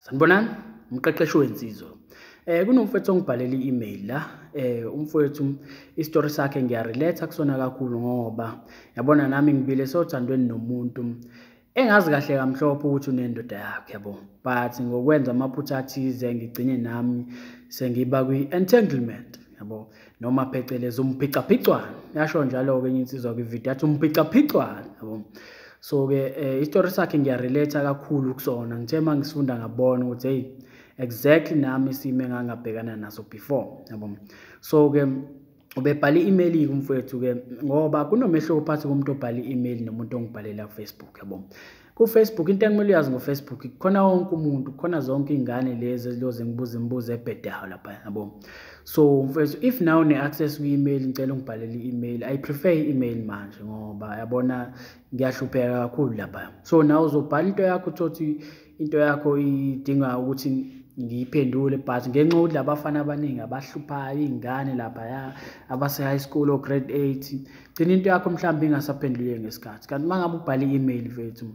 sanibonani umqeqeshi wensizwa Eh kunomfowethu ongibhalele i-email la eh umfowethu istory sakhe ngiyarelate kusona kakhulu ngoba yabona nami ngibile sothandweni nomuntu engazi kahle kamhlophe ukuthi unendoda yakhe yabo but ngokwenza amaphutha athize ngigcine nami sengiba kwi-entanglement yabo noma phecelezi umphicaphicwana yasho njalo-ke enye insizwa kwividiyo athi umphicaphicwana yabo so-ke um eh, isitori sakhe ngiyarelate-a kakhulu kusona ngithe uma ngisifunda ngabona ukuthi heyi exactly nami isimo engangabhekana naso before yabo so-ke ubebhale i-email-ke umfowethu-ke ngoba kunomehluko phakathi komuntu obhale i-email nomuntu ongibhalela kufacebook yabo kufacebook into ekumele uyazi ngofacebook khona wonke umuntu khona zonke iy'ngane lezi eziloze ngibuza imibuzo ebhedayo lapha yabo so mfethu if naw ne-access kwi-email ngicela ungibhalele i-email i prefer i-email manje ngoba yabona ngiyahlupheka kakhulu lapha so naw uzobhala into yakho uthothi into yakho idinga ukuthi ngiyiphendule but ngenxa yokuthi labafana abaningi abahluphayo iy'ngane laphaya abase-high school o-grade eight gcina into yakho mhlawumbe ingasaphenduleki ngesikhathi kanti uma ngabe ubhala i-email vethu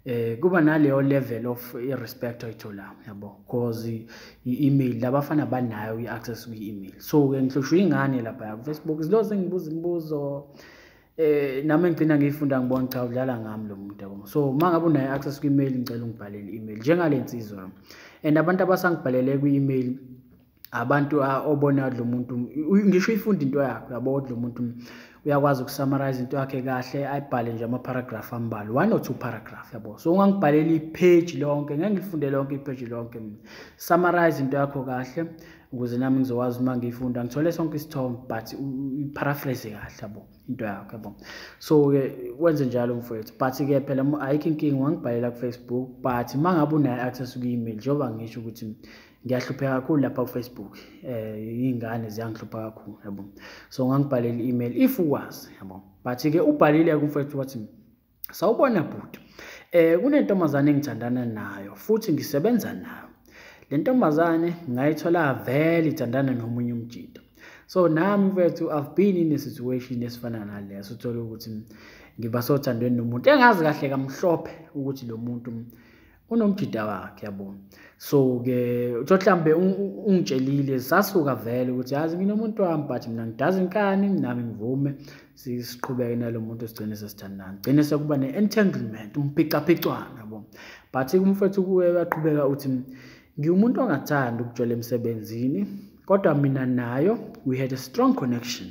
eh kuba naleyo level of respect oyitholanga yabo because i-email labafana banayo i-access kwi-email so ke ngihlushwa ingane lapha ya Facebook zilo sengibuza imibuzo eh nami ngigcina ngiyifunda ngibona cha udlala ngami lo muntu yabo so uma ngabe unayo access kwi-email ngicela ungibhalele i-email njengale nsizwa and abantu abasangibhalele kwi-email abantu obona kodwa umuntu ngisho uyifunde into yakho yabo kodwa umuntu uyakwazi ukusummarize into yakhe kahle ayibhale nje ama-paragraph ambalwa one or two paragraph yabo so ungangibhalela ipheji lonke ngeke ngilifunde lonke ipheji lonke mina summarize into yakho kahle ukuze nami ngizokwazi uma ngiyifunda ngithole sonke isithombe but uyiparaphrase kahle yabo into yakho yabo so-ke wenze njalo mfowethu but-ke phela ayikho inkinga ungangibhalela kufacebook but uma ngabe unayo access kuyi-email njengoba ngisho ukuthi ngiyahlupheka kakhulu lapha kufacebook um eh, iy'ngane ziyangihlupha kakhulu yabo so ngangibhalele i-email if ukwazi yabo but-ke ubhalile kumfowethu wathi sawubona bhuti um kunentombazane engithandana nayo futhi ngisebenza nayo le ntombazane ngayithola vele ithandana nomunye umjita so nami mfethu i've been in a situation esifana naleyo sithole ukuthi ngiba sothandweni nomuntu engazi kahle kamhlophe ukuthi lo muntu unomjida wakhe yabo so ke utho mhlambe ungitshelile sasuka vele ukuthi yazi nginomuntu wami but mina ngidazi nkani nami ngivume siqhubeke nalomuntu sigcine sesithandana gcine sekuba ne entanglement umphicaphicwana yabo but kumfethu kuwe baqhubeka uthi ngiwumuntu ongathanda ukujola emsebenzini kodwa mina nayo we had a strong connection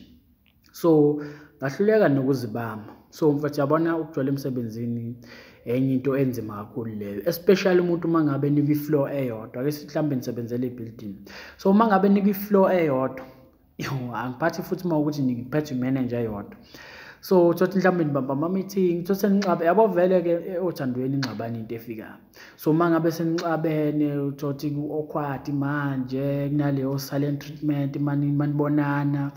so ngahluleka nokuzibamba so mfethu yabona ukugcwala emsebenzini enye into enzima kakhulu leyo especially umuntu uma ngabe nikwi-floor eyodwa ke mhlawumbe nisebenzela i-building so uma ngabe nikwi-floor eyodwa angiphathi futhi uma ukuthi ngiphethe imanager yodwa so thothi mhlawumbe nibamba ama-meeting thothi senixabe yabo vele-ke eh, othandweni ingxabani into efikayo so uma ngabe senixabene uthothi ku-awkward manje kunaleyo silent treatment manibonana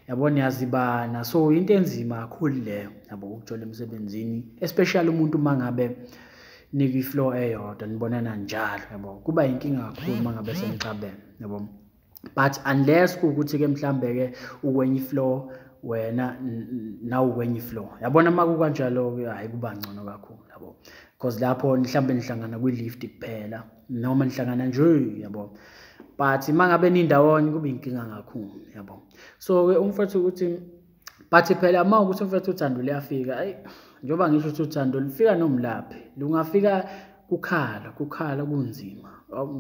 yabo niyazibana so into enzima kakhulu le yabo ukuthola emsebenzini especially umuntu uma ngabe nikwi-flow eyodwa nibonana njalo yabo kuba yinkinga kakhulu uma ngabe senixabene yabo but unless kuwukuthi ke mhlambe ke ukwenye floor wena nawu kwenye floor yabona uma kukanjalo ke hayi kuba ngcono kakhulu yabo because lapho mhlambe nihlangana kwi lift kuphela noma nihlangana nje yabo but uma ngabe nindawonye kube inkinga kakhulu yabo so ke umfowethu ukuthi but phela uma ukuthi mfethu uthando luyafika ayi njengoba ngisho ukuthi uthando lufika nomlaphi lungafika kukhala kukhala kunzima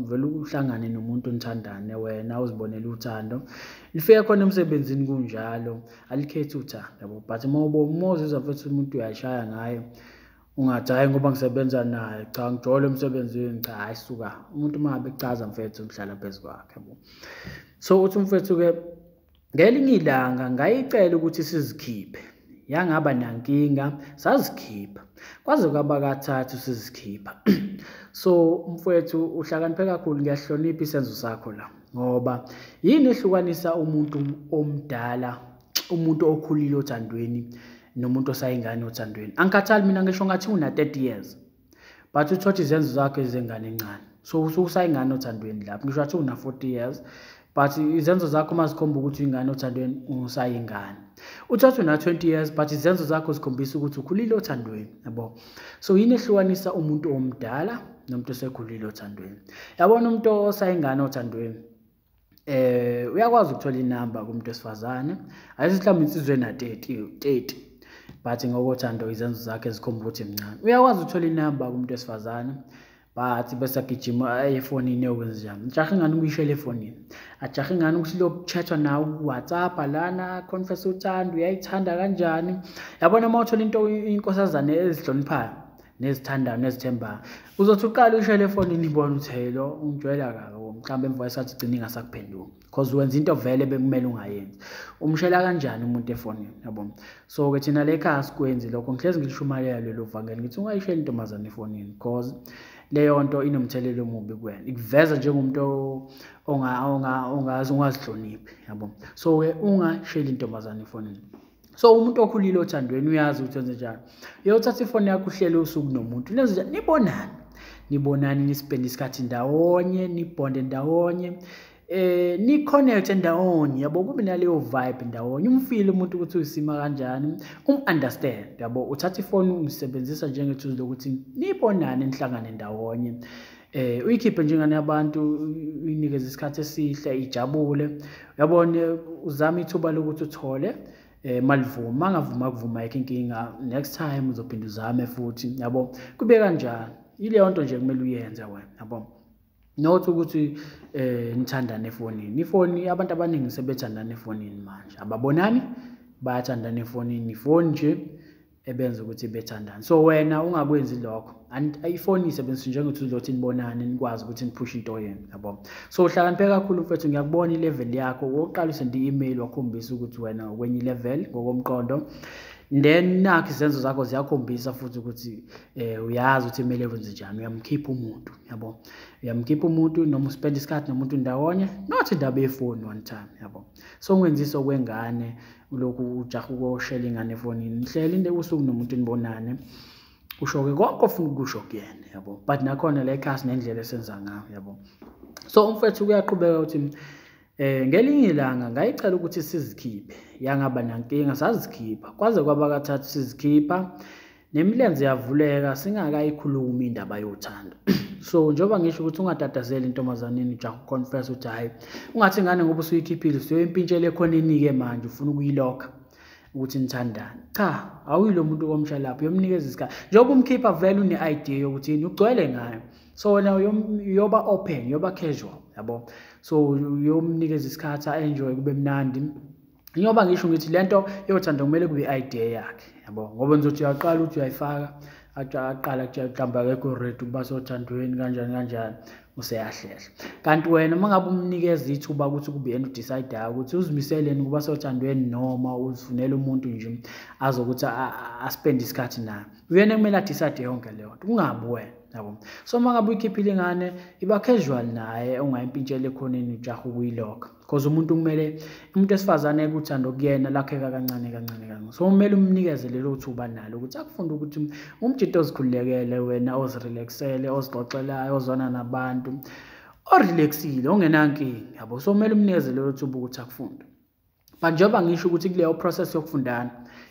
vele uhlangane nomuntu nithandane wena uzibonela uthando lifika khona emsebenzini kunjalo alikhethi uthando yabo but uma ubomozizwa futhi umuntu uyashaya ngayo ungathi hhayi ngoba ngisebenza naye cha ngijole emsebenzini cha hhayi suka umuntu uma ngabe kuchaza mfethu ngihlala phezu kwakhe yabo so uthi umfethu-ke Ngelinye ilanga ngayicela ukuthi sizikhiphe. Yangaba nankinga, sazikhipha. Kwaze kwaba kathathu sizikhipha. So mfwethu uhlakaniphe kakhulu ngiyahlonipha isenzo sakho la ngoba yini ehlukanisa umuntu omdala umuntu okhulile othandweni nomuntu osayingane othandweni angikhathali mina ngisho ngathi una-30 years but uthotha izenzo zakho ezengane encane so usuke usayingane othandweni lapho ngisho athi una-forty years but izenzo zakho uma zikhomba ukuthi uyingane othandweni usayingane uthatha una-twenty years but izenzo zakho zikhombisa ukuthi ukhulile othandweni yabo so yini ehlukanisa umuntu omdala nomuntu osekhulile othandweni yabona umuntu osayingane othandweni eh uyakwazi ukuthola inamba kumuntu wesifazane ayisithi mhlawumbe insizwe na 30 30 but ngokothando izenzo zakhe zikhomba ukuthi mncane uyakwazi ukuthola inamba kumuntu wesifazane but bese agijima aye efonini eyokwenza njani ngijahe ingane ukuyishela efonini ajahe ingane ukuthi lokutshethwa nawe kuwhatsapp lana confess uthanda uyayithanda kanjani yabona uma uthola into inkosazane ezihloniphayo nezithandano ezithembayo uzothi uqale ushele efonini ibona ukuthi hey lo ungijwayela kabi mhlawumbe emva kwesikhathi ugcine ingasakuphenduki because wenza into vele bekumele ungayenzi umshela kanjani umuntu efonini yabo so-ke thina le khaya sikwenzi lokho ngihlezi ngilishumayela lelo vangeli ngithi ungayisheli intombazane efonini because leyo nto inomthelela omubi kuwena ikuveza njengomuntu ongazihloniphi yabo so-ke ungasheli intombazane efonini so umuntu okhulile othandweni uyazi ukuthi wenze njani uyothatha ifoni yakho uhlele usuku nomuntu nenze njani nibonani nibonani nisipende isikhathi ndawonye nibhonde ndawonye eh ni-connect ndawonye yabo kube naleyo vibe ndawonye umfile umuntu ukuthi uyisima kanjani um-understand yabo uthatha ifoni umsebenzisa njengethuzile ukuthi nibonane nihlangane ndawonye eh uyikhiphe njengane yabantu uyinikeze isikhathi esihle ijabule yabona uzama ithuba lokuthi uthole eh malivuma angavuma kuvuma yake inkinga next time uzophinda uzame futhi yabo kube kanjani ileyo nto nje kumele uyenze wena yabo not ukuthi eh nithandane efonini ifoni abantu abaningi sebethandana efonini manje ababonani bayathandana efonini ifoni nje ebenza ukuthi bethandane so wena ungakwenzi lokho ifoni isebenzisa njengokuthi uzothi nibonane nikwazi ukuthi niphushe into yenu yabo so uhlakaniphe kakhulu mfethu ngiyakubona ilevel yakho wokuqala usende i-email wakhombisa ukuthi wena ukwenye ilevel ngokomqondo then nakho izenzo zakho ziyakhombisa futhi ukuthi eh uyazi ukuthi imele wenze njani uyamkhipha umuntu yabo uyamkhipha umuntu noma uspend isikhathi nomuntu ndawonye not indaba yefoni one time yabo songwenzisa okwengane lokhu ujaha ukoshela ingane efonini nihleli into ebusuku nomuntu nibonane usho-ke konke ofuna ukusho kuyena yabo but nakhona le class nendlela esenza ngayo yabo so umfethu kuyaqhubeka ukuthi Eh ngelinye ilanga ngayicela ukuthi sizikhiphe yangaba nankinga sazikhipha kwaze kwaba kathathu sizikhipha nemilenze yavuleka singakayikhulumi indaba yothando so njengoba ngisho ukuthi ungatatazeli intombazaneni ujaha uconfess ukuthi hhayi ungathi ingane ngoba usuyikhiphile usuyoyimpintshela ekhoneni-ke manje ufuna ukuyilokha ukuthi nithandane cha awuyilo muntu komsha lapho uyomunikeza isikhathi njengoba umkhipha vele une-idea yokuthi yini ugcwele ngayo so wena uyoba open uyoba casual yabo so uyomunikeza isikhathi a-enjoye kube mnandi njengoba ngisho ngithi le nto yothanda kumele kube i-idea yakhe yabo ngoba nizothi uyaqala ukuthi uyayifaka aqala kuhlamba akekho red ukuba sothandweni kanjani kanjani useyahlehla kanti wena uma ngabe umnikeza ithuba ukuthi kube yena udecidayo ukuthi uzimiseleni ukuba sothandweni noma uzifunela umuntu nje azokuthi aspende isikhathi naye uyena kumele adicide yonke leyo nto kungabi wena yabo so uma ngabe uyikhiphile ingane iba casual naye ungayimpintshela ekhoneni ujaha ukuyilokha because umuntu kumele umuntu esifazane ekuthanda okuyena lakheka kancane kancane kancane so kumele umnikeze lelo thuba nalo ukuthi akufunde ukuthi umjito ozikhululekele wena ozirelaxele ozixoxelayo ozwana nabantu orelaxile ongenankinga yabo so kumele umnikeze lelo thuba ukuthi akufunde but njengoba ngisho ukuthi kuleyo process yokufundana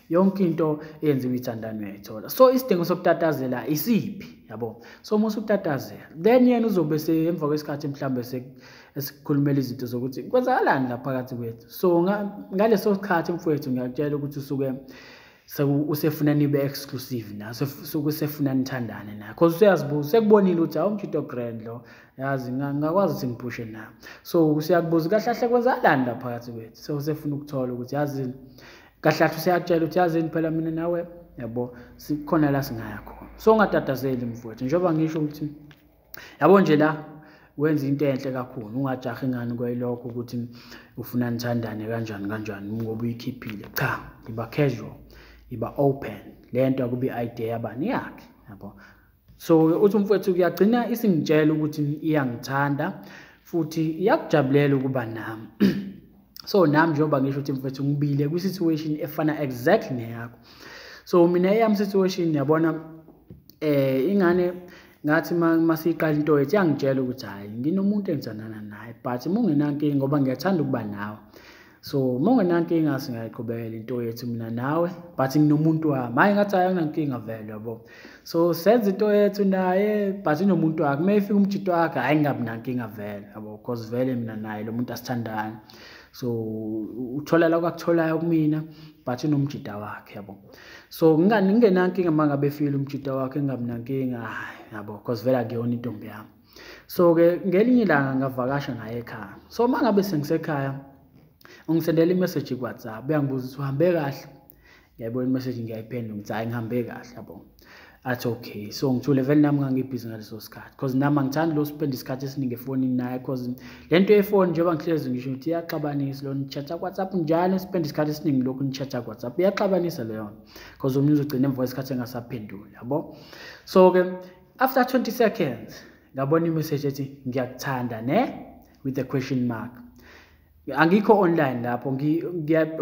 yonke into eyenziwa ithandane uyayithola so isidingo sokutatazela isiphi yabo so uma usutatazela then yena uzobe emva kwesikhathi mhlawumbe esikhulumela izinto zokuthi kwenzakalani la phakathi kwethu so ngaleso sikhathi mfowethu ngiyakutshela ukuthi usuke usefuna nibe exclusive na usefuna nithandane na cause useyazibuza sekubonile ukuthi hawu umjito grand lo yazi ngakwazi ukuthi ngiphushe na so useyakubuza kahle kahle kwenzakalani la phakathi kwethu so usefuna ukuthola ukuthi yazi kahle kahle useyakutshela ukuthi yazini phela mina nawe yabo sikhona la singaya khona so ungatatazeli mfowethu njengoba ngisho ukuthi yabo nje la wenza into enhle kakhulu ungajahi ngani kwayilokho ukuthi ufuna nithandane kanjani kanjani ngoba uyikhiphile cha iba casual iba open le nto akubi idea yabani yakhe yabo so uthi umfowethu kuyagcina isingitshela ukuthi iyangithanda futhi iyakujabulela ukuba nami so nami njengoba ngisho ukuthi mfowethu ngibile kwi-situation efana exactly neyakho so mina eyami situation yabona eh ingane ngathi uma siyiqala into yethu yangitshela ukuthi hhayi nginomuntu engithandana naye but uma ungenankinga ngoba ngiyathanda ukuba nawe so uma ungenankinga singayiqhubekela into yethu mina nawe but nginomuntu wami hhayi ngathi hhayi anginankinga vele yabo so senza into yethu naye but inomuntu wakhe uma efika umjito wakhe hhayi ngingabi nankinga vele yabo because vele mina naye lo muntu asithandani so uthola la kwakutholayo kumina but unomjida wakhe yabo so ngingenankinga uma ngabe efile umjita wakhe engabi nankinga hayi yabo because vele akuyona intombi yami so-ke ngelinye ilanga ngavakasha ngaye ekhaya so uma ngabe sengisekhaya ungisendela imeseji kuwhatsapp uyangibuza ukuthi uhambe kahle ngiyayibona imeseji ngiyayiphendula ngithi hhayi ngihambe kahle yabo athi okay so ngithule vele nami ngangibhizi ngaleso sikhathi because nami angithandi lo spend isikhathi esiningi efonini naye because le nto yefoni njengoba ngihlezi ngisho ukuthi iyaxabanisa lo nitshatha kwhatsapp njalo spend isikhathi esiningi lokhu nitshatha kwhatsapp iyaxabanisa leyo nto because omunye uzogcina emva kwesikhathi engasaphenduli yabo so-ke after 20 seconds ngabona imeseji ethi ngiyakuthanda ne with a question mark angikho online lapho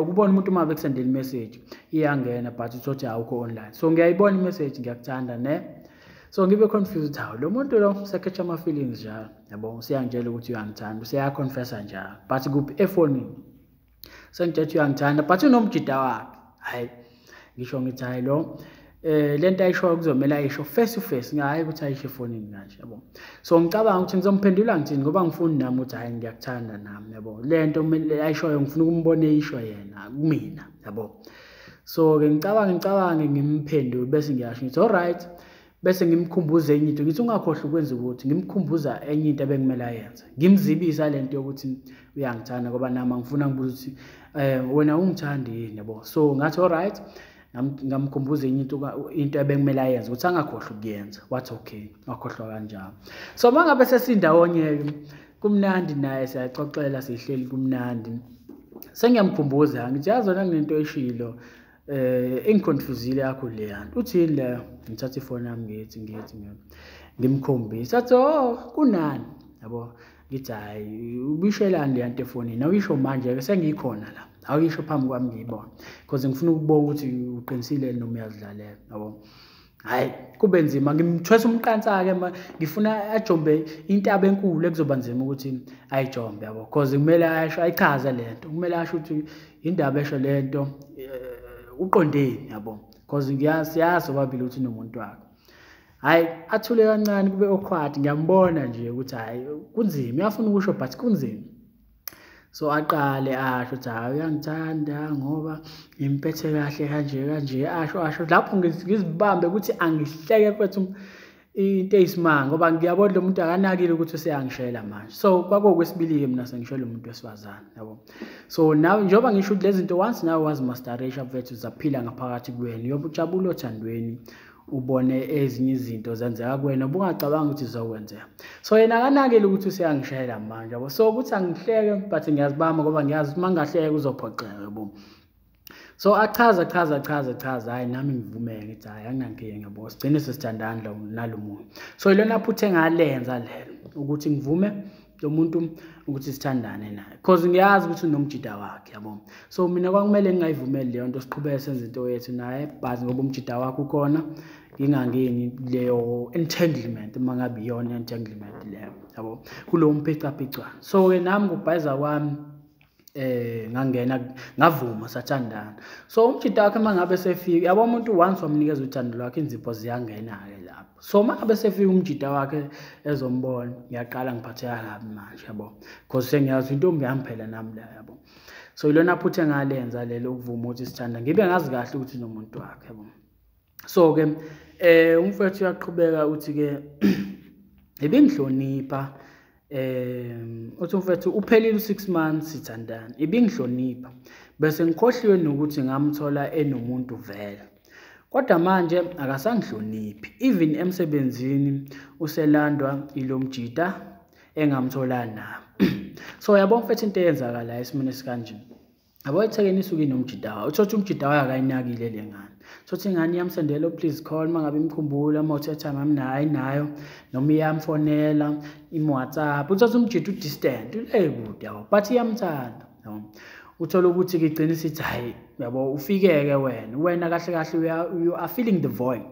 ukubona umuntu uma bekusendela imessage iyangena but uthothi awukho online so ngiyayibona imessage ngiyakuthanda ne so ngibe confused hawu lo muntu lo usekhetsha ama-feelings njalo yabo useyangitshela ukuthi uyangithanda useyaconfessa njalo but kuphi efonini sengitshela ukuthi uyangithanda but unomjida wakhe hhayi ngisho ngithi hayi lo eh lento ayishoyo kuzomela ayisho face to face ngayi ukuthi ayisho efonini kanje yabo so ngicabanga ukuthi ngizomphendula ngithini ngoba ngifuni nami ukuthi hayi ngiyakuthanda nami yabo lento kumele ayishoyo ngifuna ukumbona eyisho yena kumina yabo so ke ngicabanga ngicabanga ngimphendule bese ngiyasho ngithi all right bese ngimkhumbuza enye into ngithi ungakhohlwa ukwenza ukuthi ngimkhumbuza enye into ebekumele ayenze ngimzibisa le nto yokuthi uyangithanda ngoba nami angifuna ngibuza ukuthi um wena ungithandi yini yabo so ngathi olright ngamkhumbuza enye into into ebekumele ayenze ukuthi angakhohlwa ukuyenza wathi okay wakhohlwa kanjalo so uma ngabe sesindawonye-ke kumnandi naye siyaxoxela sihleli kumnandi sengiyamkhumbuza ngithi yazi wena nginento eshilo eh ingiconfusile yakho le yanto uthini le ngithatha ifoni yami ngithi ngithi ngimkhombisa athi oh kunani yabo ngithi hayi ubishelani le yanto efonini awuyisho manje ke sengikhona la awuyisho phambi kwami ngiyibona because ngifuna ukubona ukuthi uqinisile noma uyazidlalela yabo hayi kube nzima ngimthwesa umqansa-ke ma ngifuna ajombe intaba enkulu ekuzoba nzima ukuthi ayijombe yabo cause kumele asho ayichaze le nto kumele asho ukuthi yindaba esho le nto eh, uqondeni yabo cause siyazi obabili ukuthi nomuntu wakho hhayi athule kancane kube okhwathi ngiyambona nje ukuthi hhayi kunzima uyafuna ukusho but kunzima so aqale asho ukuthi hayi uyangithanda ngoba ngimpethe kahle kanje kanje asho asho lapho ngizibambe ukuthi angihleke kwethu into eyisimanga ngoba ngiyabona lo muntu akanakile ukuthi useyangishayela manje so kwakuwukwesibili-ke mina sengishayela umuntu wesifazane yabo so nawe njengoba ngisho ukuthi lezi zinto once nawe wazimastarisha mfethu zaphila ngaphakathi kuwena uyobe ujabula othandweni ubone ezinye izinto zenzeka kuwena ubungacabanga ukuthi zizokwenzeka so yena akanakile ukuthi useyangishayela manje yabo so ukuthi angihleke but ngiyazibamba ngoba ngiyazi uma ngingahleke kuzophoxeka yabo so achaza chaza chaza chaza hayi nami ngivumeke ngithi hayi anginankinga yabo sigcine sesithandana nalo muntu so ilona phutha engalenza lelo ukuthi ngivume lo muntu ukuthi sithandane naye because ngiyazi ukuthi unomjida wakhe yabo so mina kwakumele ngingayivumeli leyo nto siqhubeke senze into yethu naye but ngoba umjida wakhe ukhona ngingangeni leyo entanglement uma ngabe iyona entanglement leyo yabo kulowo mpicapicwana so-ke nami ngokubhayiza kwami eh ngangena ngavuma sathandana so umjita wakhe mangabe sefika yabo umuntu once wamnikeza uthando lwakhe inzipho ziyangena ke lapho so mangabe sefika umjita wakhe ezombona ngiyaqala ngiphatheka kabi manje yabo because sengiyazi intombi yami phela nami la yabo so ilona phutha engalenza lelo ukuvuma ukuthi sithanda ngibe ngazi kahle ukuthi nomuntu wakhe yabo so ke eh umfethu uyaqhubeka uthi ke ibingihlonipha um uthi mfethu uphelile u-six months sithandana ibingihlonipha bese ngikhohliwe nokuthi ngamthola enomuntu vele kodwa manje akasangihloniphi even emsebenzini uselandwa ilo mjita engamthola na so yabona mfethu into eyenzakalayo esimweni esikanjena yabo ethekeni isuke inomjidawa uthole ukuthi umjidawa akayinakile le ngane thole ukuthi ingane iyamsendela please call uma ngabe imkhumbula uma uthe time ami nayo ayinayo noma iyamfonela imwhatsapp uthole ukuthi umjida udistant ule kude yabo but iyamthanda yabo uthole ukuthi kigcina isithi hhayi yabo ufike-ke wena wena kahle kahle you are feeling the void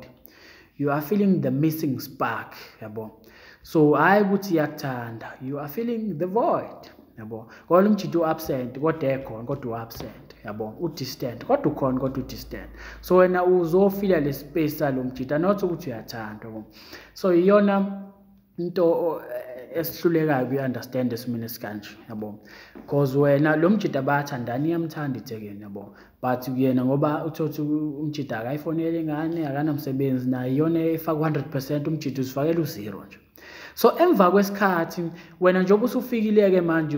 you are feeling the missing spark yabo so hayi ukuthi iyakuthanda you are feeling the void yabo kodwa lo mjita u-absent kodwa ekhona kodwa u-absent yabo u-distant kodwa ukhona kodwa u-distant so wena uzofila le space salo mjita not ukuthi uyathandwa so iyona into eh, esihlulekayo kuyi-understand esimini esikanje yabo because wena lo mjida bayathandana iyamthanda ithekeni yabo but yena ngoba uthothi umjida akayifonele ingane akanamsebenzi naye iyona efaka u-hundred percent umjida uzifakela uzero nje so emva kwesikhathi wena njengoba usufikile-ke manje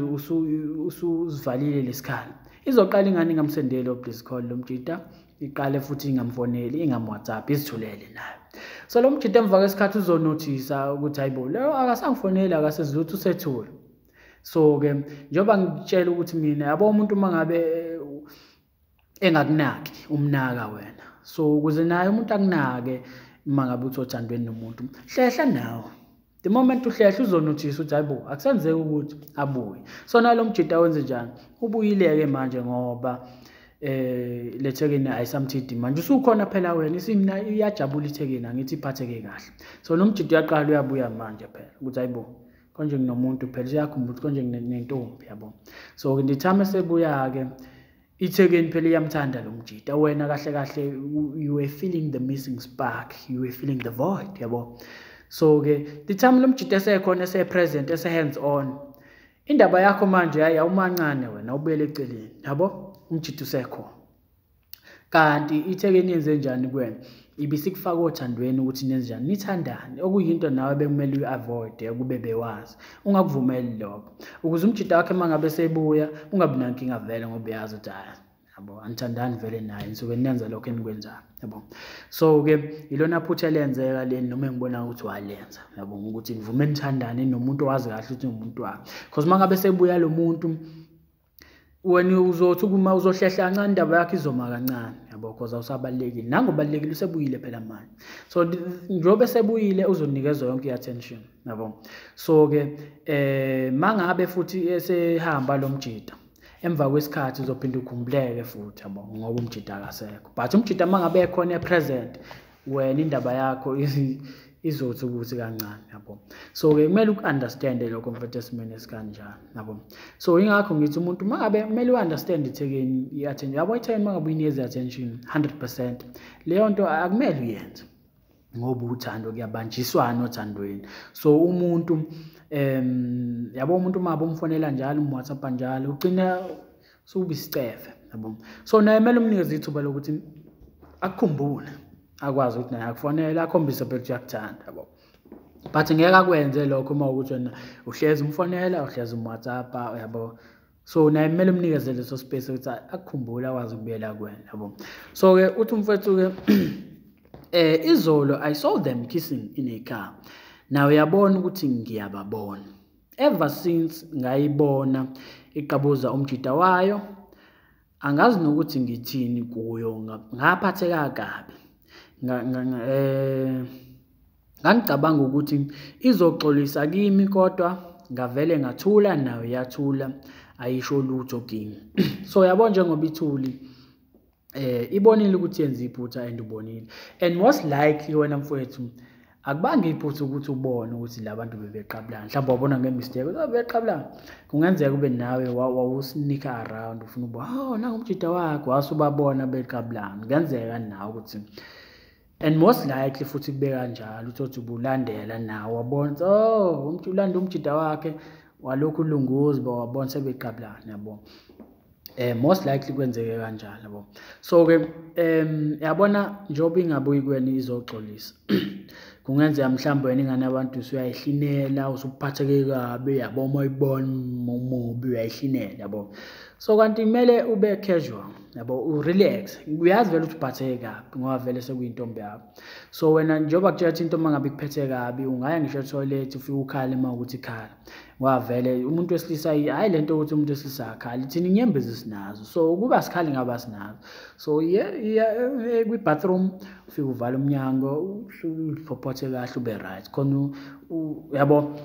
usuzivalile lesikhala izoqala ingane ingamsendeli obliscall lo mjida iqale futhi ingamfoneli ingamwhatsapp izithulele nayo so lo mjita emva kwesikhathi uzonothisa ukuthi hayi bo leyo akasangifoneli akasezilutho usethule so-ke njengoba ngitshela ukuthi mina yabo umuntu uma ngabe eh, engakunaki umnaka wena so ukuze naye umuntu akunake uma ngabe uthi othandweni nomuntu hlehla nawe the moment uhlehla uzonuthisa ukuthi hayibo akusenzeki ukuthi abuye so nalo mjita wenze njani ubuyileke manje ngoba eh lethekeni ayisamthidi manje usukhona phela wena isimna iyajabula ithekeni angithi iphatheke kahle so nomjita uyaqala uyabuya manje phela ukuthi hayibo konje nginomuntu phela uyakhumbula ukuthi konje nginentombi yabo so ngithame sebuya-ke Ithekeni phela iyamthanda lo mjita wena kahle kahle you were feeling the missing spark you were feeling the void yabo so ke the time lo mjita esekhona ese present ese hands on indaba yakho manje hayi awumancane wena ubuyele eceleni yabo umjita usekhona kanti ithekeni yenze njani kuwena ibisikufaka othandweni ukuthi nenzenjani nithandane okuyinto nawe bekumele uyi-avoide ukube bewazi ungakuvumeli lokho ukuze umjita wakhe uma ngabe sebuya ungabi nankinga vele ngoba uyazi ukuthi hhayi yabo anithandani vele naye nisuke nenza lokho enikwenzayo yabo so-ke ilona phutha elenzeka leni noma engibona ukuthi walenza yabo ukuthi nivume nithandane nomuntu owazi kahle ukuthi ngumuntu wakhe because uma ngabe sebuya lo muntu wena uzothi kuma uzohlehla kancane indaba yakho izoma kancane yabo because awusabalekile nango balekile usebuyile phela manje so njobe sebuyile uzonikezwa yonke i-attention yabo so ke eh mangabe futhi esehamba lo mjita emva kwesikhathi uzophinde ukhumbuleke futhi yabo ngoba umjita akasekho but umjita mangabe ekhona e-present wena indaba yakho izothi ukuthi kancane yabo so ke kumele uku-understande lokho mfethu esimeni esikanjani yabo so ingakho ngithi umuntu uma ngabe kumele u-understand ithekeni i-attention yabo ithekeni uma ngabe uyinikeza i-attention 100 percent leyo nto akumele uyenze ngoba uthando kuyabanjiswana othandweni so umuntu um yabo umuntu uma bomfonela njalo umwhatsapp njalo ugcina sukuba isicefe yabo so naye kumele umnikeze ithuba lokuthi akukhumbule akwazi ukuthi naye akufonele akhombise phela ukuthi uyakuthanda yabo but ngeke akwenze lokho uma ukuthi wena uhlezi umfonela uhlezi umwhatsappa yabo so naye kumele umnikeze leso space ukuthi akukhumbule akwazi ukubuyela kuwena yabo so-ke uthi umfethu-ke eh izolo i saw them kissing in a car nawe uyabona ukuthi ngiyababona ever since ngayibona iqabuza umjida wayo angazi nokuthi ngithini kuyo ngaphatheka kabi eh, ngangicabanga ukuthi izoxolisa kimi kodwa ngavele ngathula nayo yathula ayisho lutho kimi so yabo njengoba ithuli eh ibonile ukuthi yenza iphutha and ubonile and most likely wena mfowethu akubanga iphutha ukuthi ubone ukuthi labantu bebeqabulana mhlawumbe wabona ngemistake ukuthi bebeqabulana kungenzeka ube nawe wawusinika around ufuna uba oh nangu umjida wakho wasubabona beqabulana kungenzeka nawe ukuthi and most likely futhi kube kanjalo uthothi ubulandela nawo wabona oh umuntu ulanda umjida wakhe walokhu ulunguzi bo wabona sebeqabulana yabo eh most likely kwenzeke kanjalo bo so ke em yabona njoba ingabuyi kweni izoxolisa kungenzeka mhlawumbe wena ingane abantu usuyayihlinela usuphatheke kabi yabo uma uyibona umubi uyayihlinela yabo so kanti kumele ube casual yabo urelax uyazi vele ukuthi uphatheke kabi ngoba vele sekuyintombi yakho so wena njengoba kutshela ukuthi intombi angabe ikuphethe kabi ungaya ngisho etoilet ufike ukhale uma ukuthi ikhala ngoba vele umuntu wesilisa hhayi le nto yokuthi umuntu wesilisa akhali thina inyembezi sinazo so ukuba sikhali ngaba sinazo so eh, kwi-bathroom ufike uvale umnyango uphophathe kahle ube right khona yabo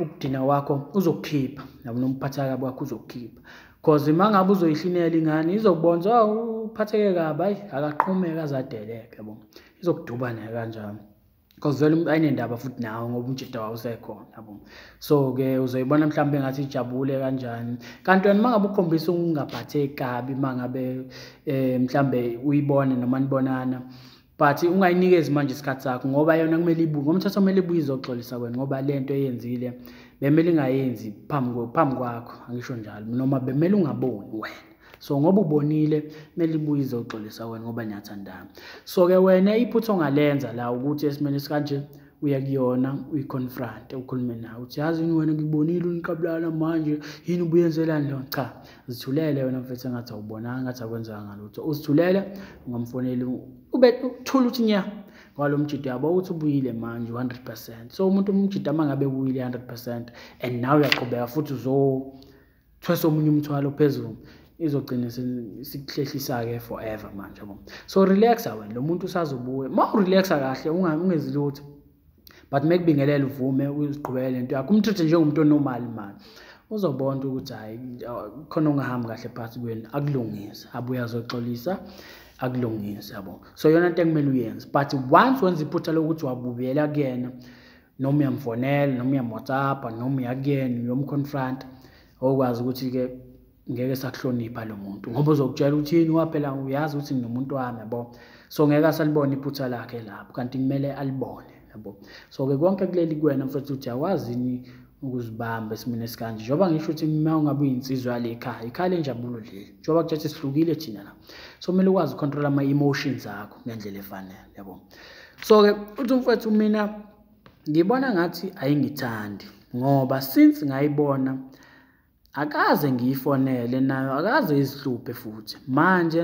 ukudina kwakho uzokukhipha nabo nomphatheka kabi wakho uzokukhipha cause uma ngabe uzoyihlinela ingane izokubonza oh, uphatheke kabi hayi akaqhumeke azadeleke yabo izokuduba naye kanjalo because vele umuntu ayinendaba futhi nawo ngoba umjita wawo usekhona yabo so-ke uzoyibona mhlawumbe ngathi ijabule kanjani kanti wena uma ngabe ukhombisa ukungaphatheki kabi uma ngabe um mhlawumbe uyibone noma nibonana but ungayinikezi manje isikhathi sakho ngoba yona kumele ibuye ngomthetho kumele ibuye izoxolisa wena ngoba le nto eyenzile bemele ingayenzi phambi phambi kwakho angisho njalo noma bemele ungaboni wena so ngoba ubonile kumele ibuye izoxolisa wena ngoba niyathandana so-ke wena iphutha ongalenza la ukuthi esimeni esikanje uya kuyona uyiconfronte ukhulume nawe uthi yazi yini wena ngibonile uniqabulana manje yini ubuyenzelani leyo cha zithulele wena mfethu engathi awubonanga ngathi akwenzanga lutho uzithulele ungamfoneli ube uthula ukuthi nya ngalo mjida yabo ukuthi ubuyile manje 100% so umuntu umjida uma ngabe ubuyile 100% and nawe uyaqhubeka futhi uzo thwesa omunye umthwalo phezulu izogcina sikuhlehlisake forever manje bo so relaxa wena lo muntu usazobuya ma urelaxa kahle ungezi lutho but make bingelela uvume uziqhubekele into yakho umthethe njengomuntu onormal mani uzobona ukuthi hayi khona ongahambi kahle phakathi kwenu akulungise abuye azoxolisa akulungise yabo so yona into ekumele uyenze but once wenza iphutha lokuthi wabubuyela kuyena noma uyamfonela noma uyamwhatsappa noma uyakuyena uyomconfronta okwazi ukuthi-ke ngeke sakuhlonipha lo muntu ngoba uzokutshela ukuthi yini waphela uyazi ukuthi nginomuntu wami yabo so ngeke asalibone iphutha lakhe lapho kanti kumele alibone yabo so-ke konke kuleli kuwena mfethu ukuthi awazi yini ukuzibamba esimeni esikanje njengoba ngisho ukuthi uma ungabe uyinsizwa yale ekhaya ikhaya lenjabulo leli njengoba kuthatha sihlukile thina la so kumele ukwazi ucontrola ama-emotions akho ngendlela efanele yabona so-ke uthi umfowethu mina ngibona ngathi ayingithandi ngoba since ngayibona akaze ngiyifonele nayo akaze izihluphe futhi manje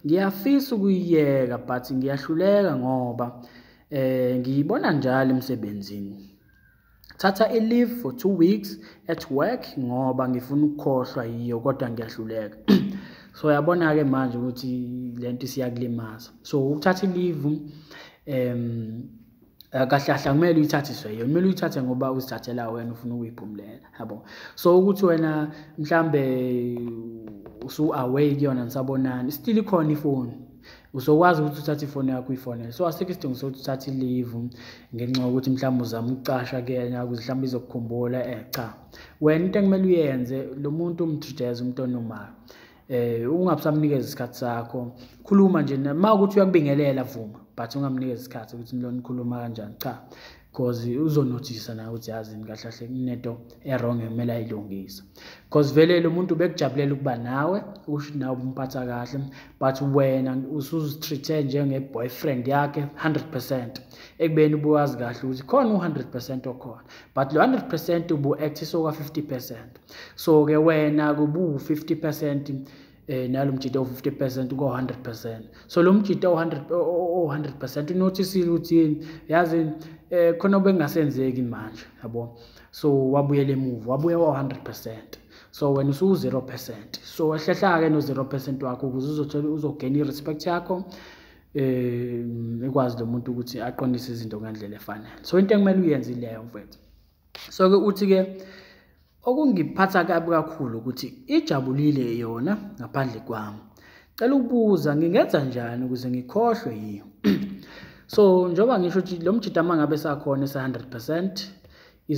ngiyafisa ukuyiyeka but ngiyahluleka ngoba eh ngiyibona njalo emsebenzini thatha i-leave for two weeks at work ngoba ngifuna ukukhohlwa yiyo kodwa ngiyahluleka so yabona-ke manje ukuthi le nto isiyakulimaza so ukuthatha i-leave um eh, kahle kahle kumele uyithathiswe yona kumele uyithathe ngoba uzithathela wena ufuna ukuyiphumulela yabo so ukuthi wena mhlambe usu-away kuyona nisabonani still ikhona ifoni usokwazi ukuthi uthathe ifoni yakho uyifonele so asikho isidingo sokuthi uthathe ilivu ngenxa yokuthi mhlawumbe uzama ukucasha kuyena ukuze mhlawumbe izokukhumbula um cha wena into ekumele uyenze lo muntu umtrijeza umuntu onomayo eh ungabusamnikeza isikhathi sakho khuluma nje uma ukuthi uyakubingelela vuma but ungamnikeza isikhathi ukuthi nilona ikhuluma kanjani cha because uzonothisa nawe ukuthi yazini kahle kahle kunento erong ekumele ayilungise because vele lo muntu bekujabulela ukuba nawe usho nawe ubumphatha kahle but wena usuzitreat-e njenge-boyfriend yakhe 100 percent ekubeni ubuwazi kahle ukuthi khona u-100 percent okhona but lo 100 percent ubu-actisa okwa-50 percent so-ke wena kubu-50 percent eh nalo mjita u50% ko 100% so lo mjita u100 u100% unothisile uthini yazi eh khona obengasenzeki manje yabo so wabuyela emuva wabuya wa 100% so wena usu 0% so ehlehla ke no 0% wakho ukuze uzothola uzogena irespect yakho eh ikwazi lo muntu ukuthi aqondise izinto ngendlela efanele so into ekumele uyenze ileyo mfethu so ke uthi ke okungiphatha kabi kakhulu ukuthi ijabulile yona ngaphandle kwami cela ukubuza ngingenza njani ukuze ngikhohlwe yiyo so njengoba ngisho ukuthi lo mjita uma ngabe sakhona esa-100 percent